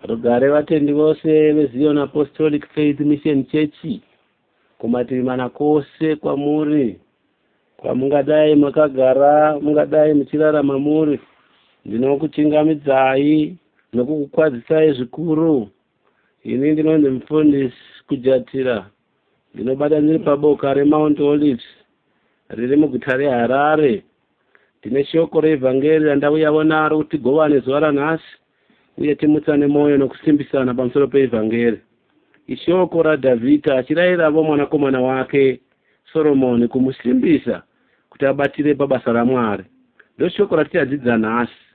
Rugare vatendi vose veZion Apostolic Faith Mission Church kumativi mana kose kwamuri kwamungadai makagara mungadai muchirarama muri ndinokuchingamidzai nokukukwadzisai zvikuru ini ndinonzi mufundisi kujatira ndinobata ndiri paboka remount olives riri muguta reharare Tine shoko reEvhangeri randauyavo naro kuti tigovane zuva ranhasi uye timutsane mwoyo nokusimbisana pamusoro peEvhangeri. Ishoko raDhavhidha achirayiravo mwanakomana wake Soromoni kumusimbisa kuti abatire pabasa raMwari. Ndoshoko ratichadzidza nhasi.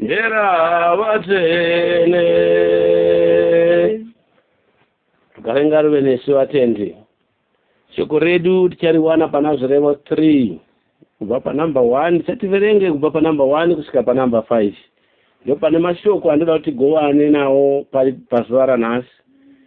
Hera vatsvene rugare ngaruve nesu vatendi shoko redu tichariwana pana zvirevo 3 kubva panumber 1 tichativerenge kubva panumber 1 kusvika panumber 5 ndo pane mashoko andoda kuti tigovane nawo pazuva ranhasi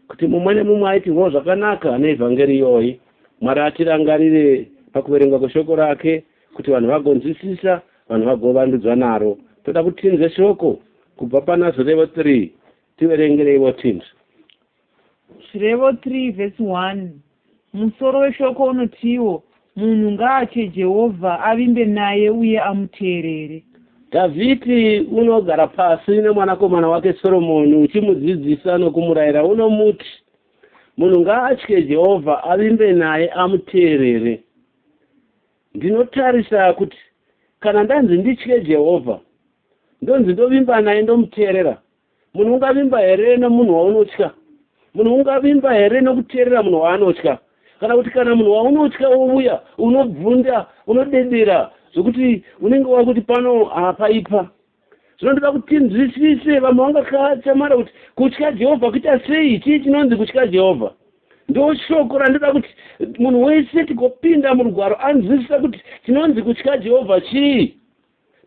kuti mumwe nemumwe aitirwo zvakanaka neevhangeri iyoyi mwari atirangarire pakuverengwa kweshoko rake Kuti vanhu vagonzwisisa, vanhu vagovandudzwa naro, toda kuti tinzwe shoko kubva pana Zvirevo 3. Tiverengereiwo tinzwe. Zvirevo 3 vhesi 1 Musoro weshoko unotiwo, Munhu ngaatye Jehovha, avimbe naye uye amuteerere. Dhavhidhi unogara pasi nemwanakomana wake Soromoni uchimudzidzisa nokumurayira unomuti, Munhu ngaatye Jehovha, avimbe naye, amuteerere. Ndinotarisa kuti kana ndanzi nditye Jehovha, ndonzi ndovimba naye ndomuteerera. Munhu ungavimba here nomunhu waunotya? Munhu ungavimba here nokuteerera munhu waanotya? Kana kuti kana munhu waunotya wouya, unobvunda, unodedera zvokuti unenge wakuti pano hapaipa. zvino ndoda kuti nzwisise vamwe vangakachamara kuti kutya jehovha kuita sei chii chinonzi kutya jehovha ndo shoko randoda kuti munhu wese tigopinda murugwaro anzwisisa kuti tinonzi kutya jehovha chii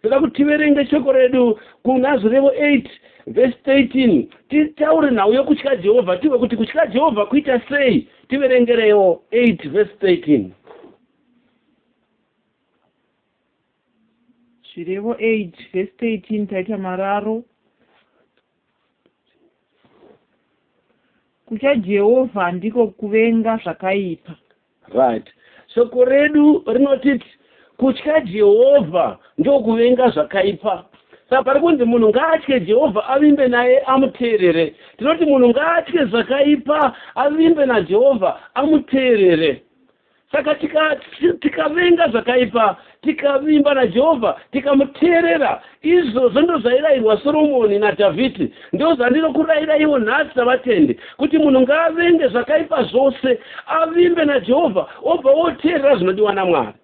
toda kuti tiverenge shoko redu kuna zvirevo 8 vhesi 13 titaure nhau yokutya jehovha tiwe kuti kutya jehovha kuita sei tiverengerewo 8 vhesi 13 Zvirevo 8 vhesi 13 taita mararo kutya Jehovha handiko kuvenga zvakaipa. Right. Shoko redu rinotiti kutya Jehovha ndokuvenga zvakaipa. Saka pari kunzi munhu ngaatye Jehovha avimbe naye amuteerere. Tinoti munhu ngaatye zvakaipa avimbe naJehovha amuteerere. Saka tikavenga tika, tika zvakaipa, tikavimba naJehovha, tikamuteerera, izvozvo ndozvairayirwa Soromoni naDhavhidhi. Ndozvandinokurayiraiwo nhasi savatendi, kuti munhu ngaavenge zvakaipa zvose, avimbe naJehovha, obva woteerera zvinodiwa naMwari.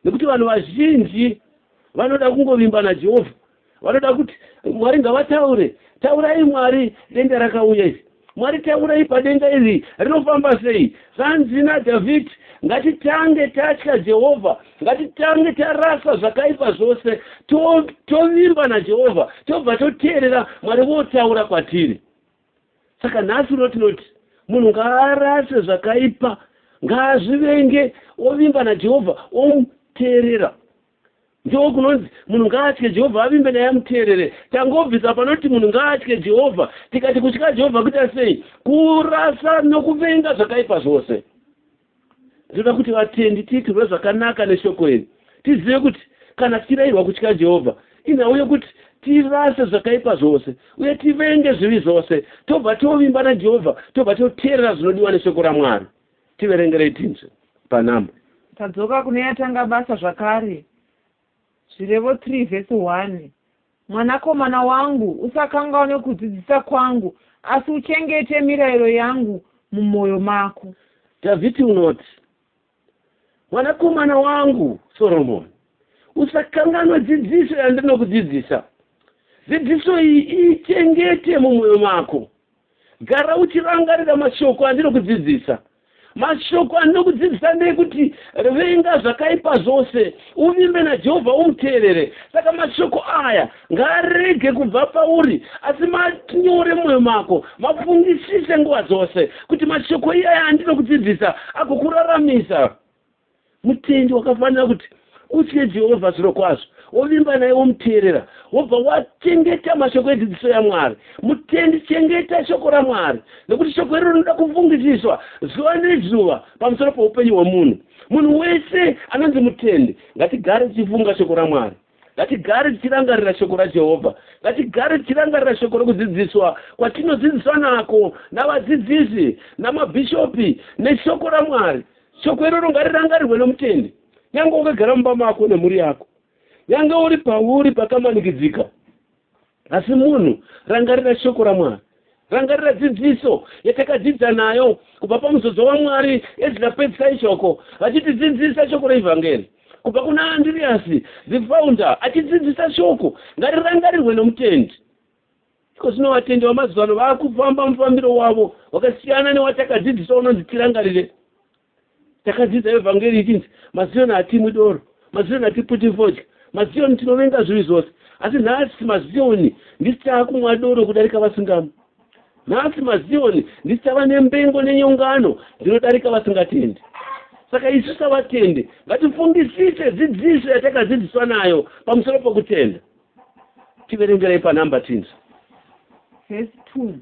nekuti vanhu vazhinji vanoda kungovimba najehovha vanoda kuti mwari ngavataure taurai mwari denda rakauya iri mwari taurai padenga iri rinofamba sei zvanzi nadhavhidhi ngatitange tatya jehovha ngatitange tarasa zvakaipa zvose tovimba najehovha tobva toteerera mwari votaura kwatiri saka nhasi uno tinoti munhu ngaarase zvakaipa ngaazvivenge ovimba najehovha omuteerera ndiwo kunonzi munhu ngaatye jehovha avimbe naye amuteerere tangobvisa panoti munhu ngaatye jehovha tikati kutya jehovha kuita sei kurasa nokuvenga zvakaipa zvose Ndinoda kuti vatendi tiitirwe zvakanaka neshoko iri. Tizive kuti kana tichirayirwa kutya Jehovha, inhau yokuti tirase zvakaipa zvose uye tivenge zvivi zvose, tobva tovimba naJehovha, tobva toteerera zvinodiwa neshoko raMwari. Tiverengerei tinzwe panhamba. Tadzoka kune yatanga basa zvakare, Zvirevo 3 vhesi 1. Mwanakomana wangu, usakanganwe kudzidzisa kwangu, asi uchengete mirayiro yangu mumwoyo mako. Dhavhidhi unoti, Mwanakomana wangu Soromoni, usakanganwe dzidziso yandinokudzidzisa. Dzidziso iyi iichengete mumwoyo mako, Gara uchirangarira mashoko andinokudzidzisa. Mashoko andinokudzidzisa ndeekuti venga zvakaipa zvose, uvimbe naJehovha umuteerere. Saka mashoko aya ngaarege kubva pauri, asi manyore mumwoyo mako, mafungisise nguva dzose, kuti mashoko iyaya andinokudzidzisa agokuraramisa. Mutendi wakafanira kuti utye Jehovha zvirokwazvo, wovimba naye, womuteerera, wobva wachengeta mashoko edzidziso yaMwari. Mutendi, chengeta shoko raMwari, nokuti shoko iroro rinoda kufungisiswa zuva nezuva pamusoro poupenyu hwomunhu. Munhu wese anonzi mutendi, ngatigare tichifunga shoko raMwari. Ngatigare tichirangarira shoko raJehovha. Ngatigare tichirangarira shoko rokudzidziswa kwatinodzidziswa nako navadzidzisi, namabhishopi, neshoko raMwari. Shoko iroro ngarirangarirwe nomutendi, nyange wakagara mumba mako nemhuri yako, nyange uri pauri pakamanikidzika. Asi munhu, rangarira Shoko raMwari. Rangarira dzidziso yatakadzidza nayo kubva pamuzodzo waMwari Ezra pedzisa ishoko, vachitidzidzisa shoko reEvhangeri. Kubva kuna Andiriasi, the founder, achidzidzisa shoko, ngarirangarirwe nomutendi. Iko zvino vatendi vamazuva ano vakufamba mufambiro wavo wakasiyana newatakadzidziswa unonzi tirangarire. Takadzidza evhangeri ichinzi maZioni hatimwi doro, maZioni hatiputi fodya, maZioni tinovenga zvivi zvose. Asi nhasi maZioni ndisi taakumwa doro kudarika vasingamwi. Nhasi maZioni ndisi tava nembengo nenyongano dzinodarika vasingatendi. Saka isu savatendi ngatifungisise dzidziso yatakadzidziswa nayo pamusoro pokutenda. tiverengerei panumber tinzwe verse 2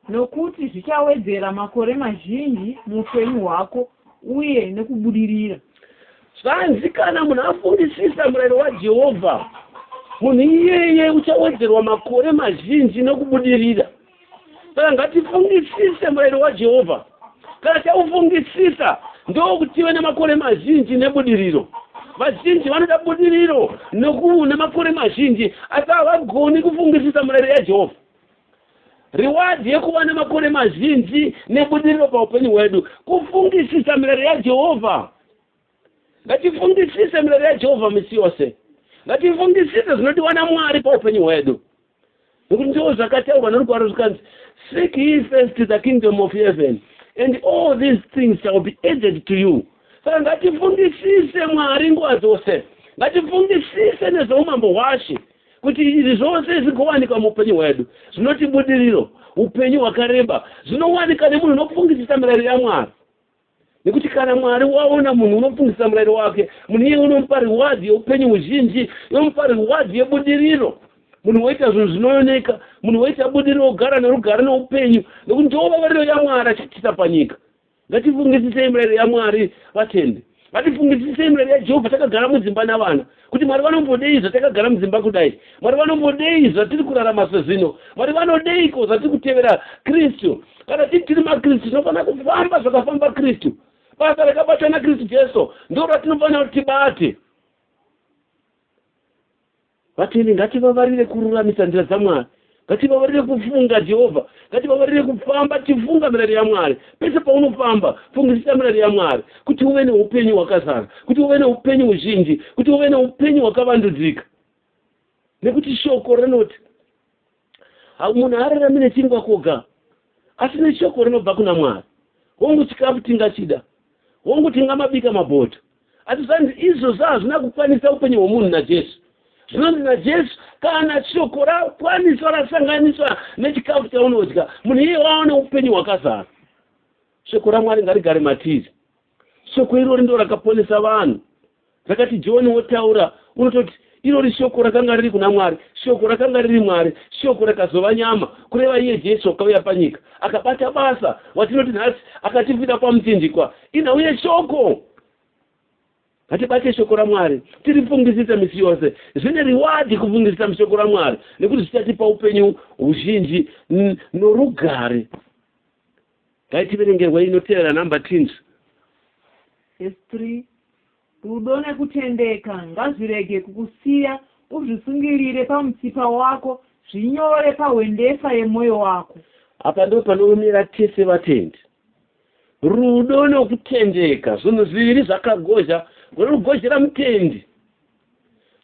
nokuti zvichawedzera makore mazhinji muupenyu hwako uye nekubudirira zvanzi kana munhu afungisisa murayiro wajehovha munhu iyeye uchawedzerwa makore mazhinji nekubudirira saka ngatifungisise murayiro wajehovha kana taufungisisa ndokuti tive nemakore mazhinji nebudiriro vazhinji vanoda budiriro noku nemakore mazhinji asi havagoni kufungisisa murayiro yajehovha riwadhi yekuva nemakore mazhinji nebudiriro paupenyu hwedu kufungisisa mirayiro yajehovha Ngatifungisise mirayiro yaJehovha misi yose. Ngatifungisise zvinodiwa naMwari paupenyu hwedu. Nokuti ndizvo zvakataurwa norugwaro zvikanzi, Seek ye first the kingdom of heaven, and all these things shall be added to you. Saka ngatifungisise Mwari nguva dzose. Ngatifungisise nezveumambo hwaShe kuti izvi zvose zvigowanikwa muupenyu hwedu. Zvinoti budiriro, upenyu hwakareba, zvinowanika nemunhu unofungisisa mirayiro yaMwari. nekuti kana mwari waona munhu unofungisisa murayiro wake munhu iye unomupa riwadhi yeupenyu huzhinji unomupa riwadhi yebudiriro munhu woita zvinhu zvinooneka munhu woita budiriro wogara nerugare neupenyu nekuti ndiwo vavariro yamwari achiitisa panyika ngatifungisisei murayiro yamwari vatendi ngatifungisisei murayiro yajehovha takagara mudzimba navana kuti Mwari vanombodei zvatakagara mudzimba kudai? Mwari vanombodei zvatiri kurarama sezvino? Mwari vanodeiko zvatiri kutevera Kristu? Kana tiri tiri maKristu, tinofanira kufamba zvakafamba Kristu. Basa rakabatwa naKristu Jesu ndiro ratinofanira kuti tibate. Vatendi, ngativavarire kururamisa nzira dzaMwari. Ngativavarire kufunga Jehovha. Ngativavarire kufamba tichifunga mirayiro yaMwari. Pese paunofamba, fungisisa mirayiro yaMwari kuti uve neupenyu hwakazara, kuti uve neupenyu huzhinji, kuti uve neupenyu hwakavandudzika. Nekuti shoko rinoti, munhu haararami nechingwa koga, asi neshoko rinobva kuna Mwari. Hongu, chikafu tingachida, hongu, tingamabika mabota, Asi zvanzi izvozvo hazvina kukwanisa upenyu hwomunhu naJesu. Zvinonzi naJesu, kana shoko rakwaniswa rasanganiswa nechikafu chaunodya, munhu iye wava neupenyu hwakazara. Shoko raMwari ngarigare matiri. Shoko irori ndo rakaponesa vanhu. Rakati John wotaura, unototi Irori Shoko rakanga riri kuna Mwari. Shoko rakanga riri Mwari. Shoko rakazova nyama, kureva iye Jesu wakauya panyika. Akabata basa, watinoti nhasi, akatifida kwaMuchinjikwa. Ina, uye Shoko! Ngatibate Shoko raMwari, tirifungisise misi yose. Zvine riwadhi kufungisisa muShoko raMwari, nekuti zvichatipa upenyu huzhinji norugare. Ngaitiverengerwa inoteera number tins. Verse 3. Rudo nekutendeka ngazvirege kukusiya uzvisungirire pamutsipa wako zvinyore pahwendefa yemoyo wako. Apa ndipo panoomera tese vatendi. Rudo nekutendeka zvinhu zviviri zvakagozha, runogozhera mutendi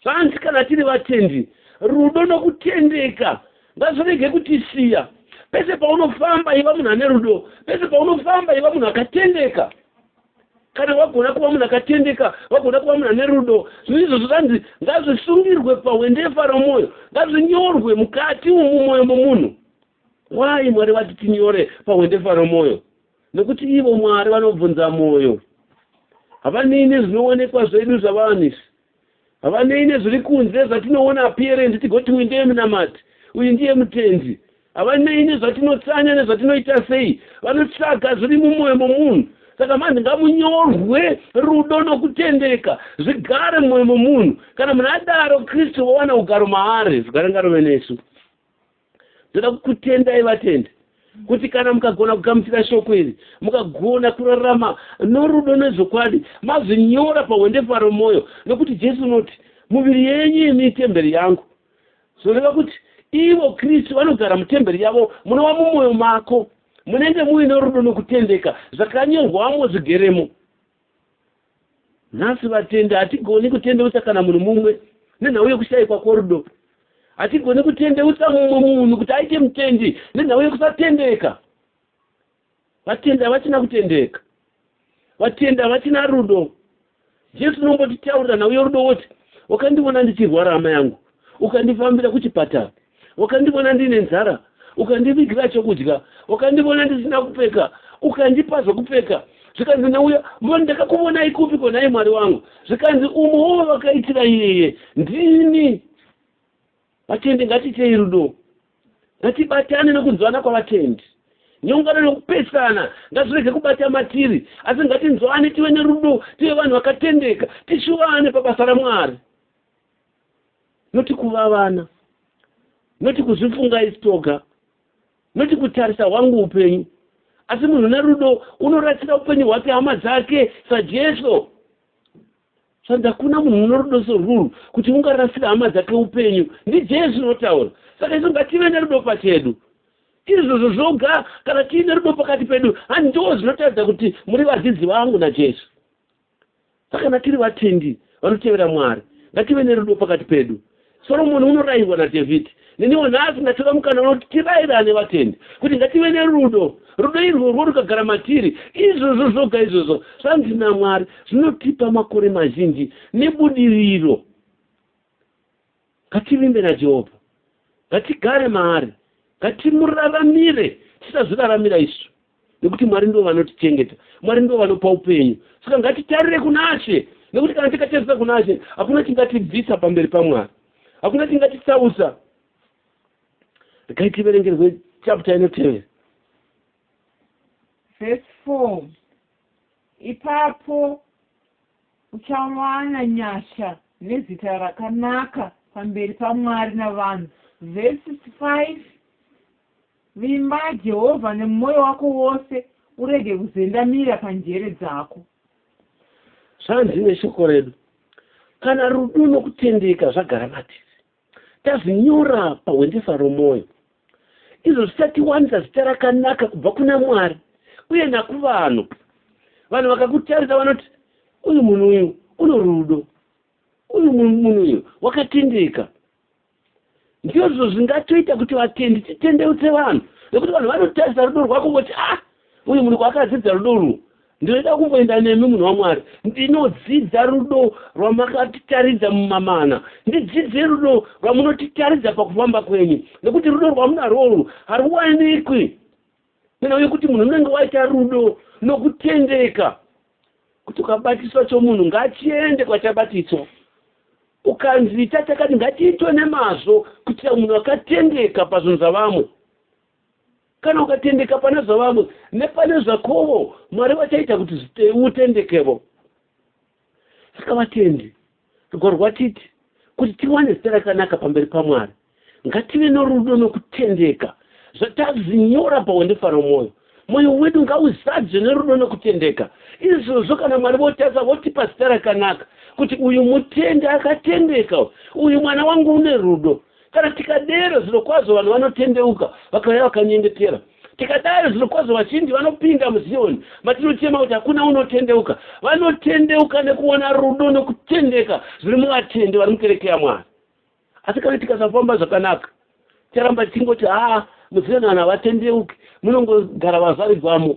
Hanzi kana tiri vatendi, rudo nokutendeka ngazvirege kutisiya. Pese paunofamba iva munhu ane rudo, pese paunofamba iva munhu akatendeka. Kana wagona kuva munhu akatendeka, wagona kuva munhu ane rudo, zvinhu izvozvo zvanzi ngazvisungirwe pahwendefa romwoyo, ngazvinyorwe mukati umu mwoyo momunhu. Why Mwari vati tinyore pahwendefa romwoyo? Nokuti ivo Mwari vanobvunza mwoyo. Havanei nezvinoonekwa zvedu zvavanhu. Havanei nezviri kunze zvatinoona appearance tigoti uyu ndeye munamati, uyu ndiye mutendi. Havanei nezvatinotsanya nezvatinoita sei. Vanotsvaga zviri mumwoyo momunhu. Saka manje ngamunyorwe rudo nokutendeka zvigare mumwoyo momunhu. Kana munhu adaro Kristu vowana ugaro maari. Zvigare ngarove nesu. ndoda kukutendai vatendi kuti kana mukagona kugamuchira shoko iri mukagona kurarama norudo nezvokwadi mazvinyora pahwendefa romwoyo nokuti jesu unoti muviri yenyu imi itemberi yangu zvinoreva kuti ivo kristu vanogara mutemberi yavo munova mumwoyo mako munenge muine rudo nokutendeka zvakanyorwamo zvigeremo Nhasi vatendi hatigoni kutendeutsa kana munhu mumwe nenhau yekushaikwa kworudo. Hatigoni kutendeutsa mumwe munhu kuti aite mutendi nenhau yekusatendeka. Vatendi havachina kutendeka. Vatendi havachina rudo. Jesu unombotitaurira nhau yorudo woti, Wakandiona ndichirwara hama yangu, ukandifambira kuchipatara. Wakandivona ndine nzara, ukandivigira chokudya, wakandivona ndisina kupfeka, ukandipa zvokupfeka. Zvikanzi nauya, mboni, ndakakuvonai kupiko, nhai Mwari wangu? Zvikanzi, umwe wovakaitira iyeye ndini. Vatendi, ngatiitei rudo, ngatibatane nokunzwana kwavatendi. Nyongano nokupesana ngazvirege kubata matiri, asi ngatinzwane, tive nerudo, tive vanhu vakatendeka, tishuvane pabasa raMwari. noti kuva vana noti kuzvifunga isi toga noti kutarisa hwangu upenyu asi munhu nerudo unorasira upenyu hwake hama dzake sajesu sandi hakuna munhu unorudo soruru kuti ungarasira hama dzake upenyu ndijesu unotaura saka isu ngative nerudo pachedu izvozvo zvoga kana tiine rudo pakati pedu handiwo zvinotaridza kuti muri vadzidzi vangu najesu Saka kana tiri vatendi vanotevera Mwari, ngative nerudo pakati pedu. Soromoni unorairwa naDhavhidhi. Neniwo nhasi ndatora mukana unoti tirairane vatendi, kuti ngative nerudo. Rudo irworwo rukagara matiri, izvozvo zvoga izvozvo zvanzi naMwari zvinotipa makore mazhinji nebudiriro. Ngativimbe naJehovha. Ngatigare maari. Ngatimuraramire. Tisazviraramira isu. Nekuti Mwari ndivo vanotichengeta. Mwari ndivo vanopa upenyu. Saka ngatitarire kunaShe. Nekuti kana tikatarisa kunaShe, hakuna chingatibvisa pamberi paMwari. Hakuna chingatitsausa. Regai tiverengerwe chapter inotevera. Verse 4. Ipapo Uchawana nyasha nezita rakanaka pamberi paMwari navanhu. Vhesi 65, Vimba Jehovha nemwoyo wako wose, urege kuzendamira panjere dzako. Zvanzi neshoko redu, Kana rudo nokutendeka zvagara matiri. Tazvinyora pahwendesa romwoyo. Izvo zvichatiwanisa zita rakanaka kubva kuna Mwari uye nakuvanhu. Vanhu vakakutarisa vanoti, Uyu munhu uyu uno rudo. Uyu munhu uyu wakatendeka. Ndizvo zvingatoita kuti vatendi titendeutse vanhu, nekuti vanhu vanotarisa rudo rwako voti, Ah! Uyu munhu kwaakadzidza rudo urwu ndinoda kumboenda nemi munhu wamwari ndinodzidza rudo rwamakatitaridza mumamana ndidzidzei rudo rwamunotitaridza pakufamba kwenyu nekuti rudo rwamunarworwu haruwanikwi nena uye kuti munhu unenge waita rudo nokutendeka kuti ukabatiswa chomunhu ngachiende kwachabatiswa ukanzi tachakati ngatiitwe nemazvo kuitira munhu akatendeka pazvinhu zvavamwe Kana ukatendeka pane zvavamwe nepane zvakovo, Mwari vachaita kuti utendekevo. Saka vatendi, rugwaro rwatiti kuti tiwane zita rakanaka pamberi paMwari, ngative norudo nokutendeka zvatazvinyora pahwendefa romwoyo. Mwoyo wedu ngauzadzwe nerudo nokutendeka. Izvozvo kana Mwari votasa votipa zita rakanaka kuti uyu mutendi akatendeka, uyu mwana wangu une rudo. Kana tikadero, zvirokwazvo vanhu vanotendeuka, vakauya vakanyengetera. Tikadaro, zvirokwazvo vazhinji vanopinda muZioni, matinochema kuti hakuna unotendeuka. Vanotendeuka nekuona rudo nokutendeka zviri muvatendi vari mukereke yaMwari. Asi kana tikasafamba zvakanaka, ticharamba tichingoti, haa, muZioni vanhu havatendeuki, munongogara vazvarigwamo.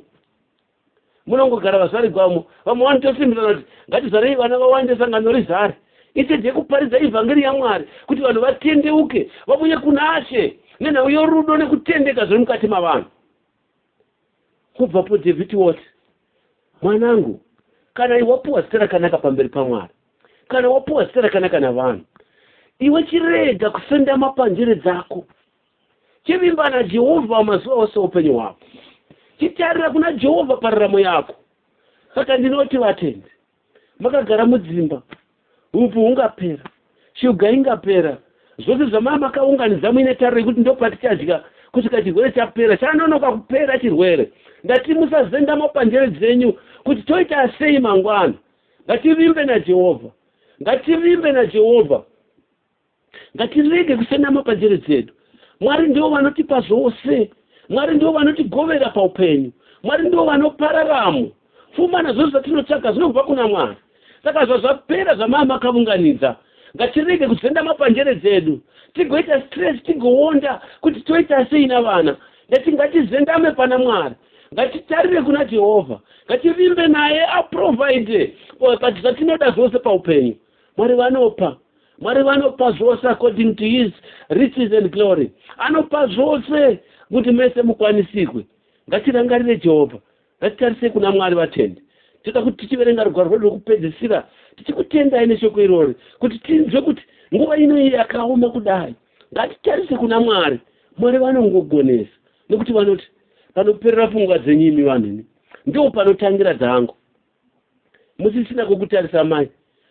munongogara vazvari gwamo vamwe vanotosimbisana kuti ngatizvarei vana vawande sangano rizare ichechi yekuparidza ivhangeri yamwari kuti vanhu vatendeuke vavuye kuna she nenhau yorudo nekutendeka zviri mukati mavanhu kubvapo dhavhidhi woti mwanangu kana iwe wapiwa zita rakanaka pamberi pamwari kana wapiwa zita rakanaka navanhu iwe chirega kusendama panjere dzako Chivimba naJehovha mazuva ose oupenyu hwako. Chitarira kuna Jehovha pararamo yako. Saka ndinoti vatendi, makagara mudzimba, upo hungapera, shuga ingapera, zvose zvamaya makaunganidza muine tariro yekuti ndopatichadya kusvika chirwere chapera, chanonoka kupera chirwere. Ndati musazendama panjere dzenyu kuti toita sei mangwana. Ngativimbe naJehovha. Ngativimbe naJehovha. Ngatirege kusenama panjere dzedu. Mwari ndivo vanotipa zvose. Mwari ndivo vanotigovera paupenyu. Mwari ndivo vanopa raramo. Pfuma nazvose zvatinotsvaga zvinobva kuna Mwari. Saka zvazvapera zvamava makavunganidza, ngatirege kuzendama panjere dzedu tigoita stress tigoonda kuti toita sei navana ndati ngatizendame pana mwari ngatitarire kuna jehovha ngativimbe naye aprovide but zvatinoda zvose paupenyu mwari vanopa Mwari vanopa zvose according to his riches and glory. Anopa zvose kuti mese mukwanisirwe. Ngatirangarire Jehovha. Ngatitarisei kuna Mwari vatendi. Toda kuti tichiverenga rugwaro rwedu rwekupedzisira tichikutendai neshoko irori kuti tinzwe kuti nguva ino iyi yakaoma kudai. Ngatitarise kuna Mwari. Mwari vanongogonesa nekuti vanoti panoperera pfungwa dzenyu imi vanhu imi ndoo panotangira dzangu. musisina kukutarisa mai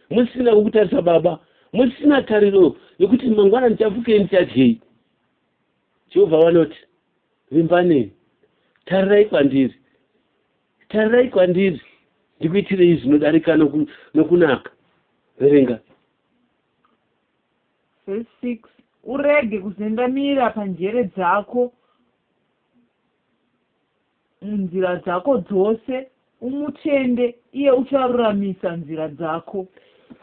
musisina kukutarisa baba musisina tariro yekuti mangwana ndichapfukei ndichadyei jehovha vanoti vimbanei tarirai kwandiri tarirai kwandiri ndikuitirei zvinodarika nokunaka verenga verse 6 urege kuzendamira panjere dzako munzira dzako dzose, umutende, iye ucharuramisa nzira dzako.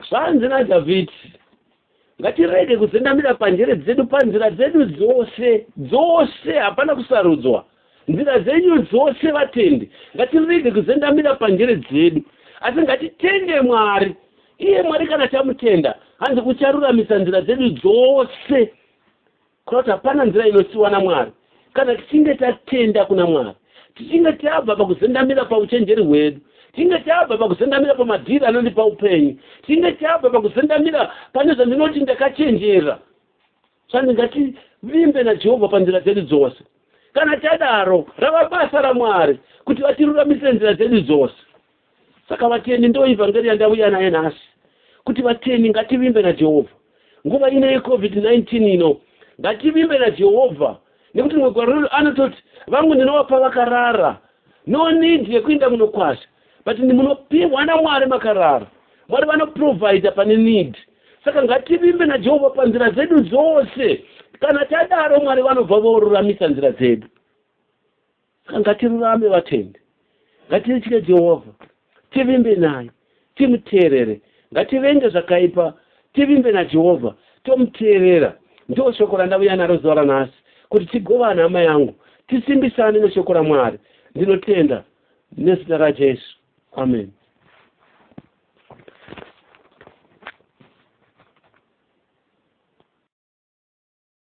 Zvanzi naDhavhidhi, Ngatirege kuzendamira panjere dzedu, panzira dzedu dzose, dzose, hapana kusarudzwa, nzira dzenyu dzose, vatendi, ngatirege kuzendamira panjere dzedu, asi ngatitende Mwari, iye Mwari kana tamutenda, hanzi ucharuramisa nzira dzedu dzose. Kana kuti hapana nzira inosiwa naMwari. Kana tichinge tatenda kuna Mwari, tichinge tabva pakuzendamira pauchenjeri hwedu, tichinge tabva pakuzendamira pamadhiri anondipa upenyu, tichinge tabva pakuzendamira pane zvandinoti ndakachenjera, sandi ngativimbe naJehovha panzira dzedu dzose. Kana tadaro, rava basa raMwari kuti vatiruramisire nzira dzedu dzose. Saka vatendi ndoivhangeri yandauya nayo nhasi kuti vatendi ngativimbe naJehovha. Nguva ino yeCovid 19 ino ngativimbe naJehovha nekuti rimwe gwaro redu anototi vangu ndinovapa vakarara no need yekuinda munokwasha but ndimunopihwa naMwari makarara. Mwari vanoprovider pane need. Saka ngativimbe naJehovha panzira dzedu dzose. Kana tadaro Mwari vanobva voruramisa nzira dzedu. Saka ngatirurame vatendi, ngatirtye Jehovha, tivimbe naye, timuteerere. Ngativenge zvakaipa, tivimbe naJehovha, tomuteerera. Ndiro shoko randauya naro zuva ranhasi, kuti tigovane, hama yangu, tisimbisane neshoko raMwari. Ndinotenda nezita raJesu. Ameni.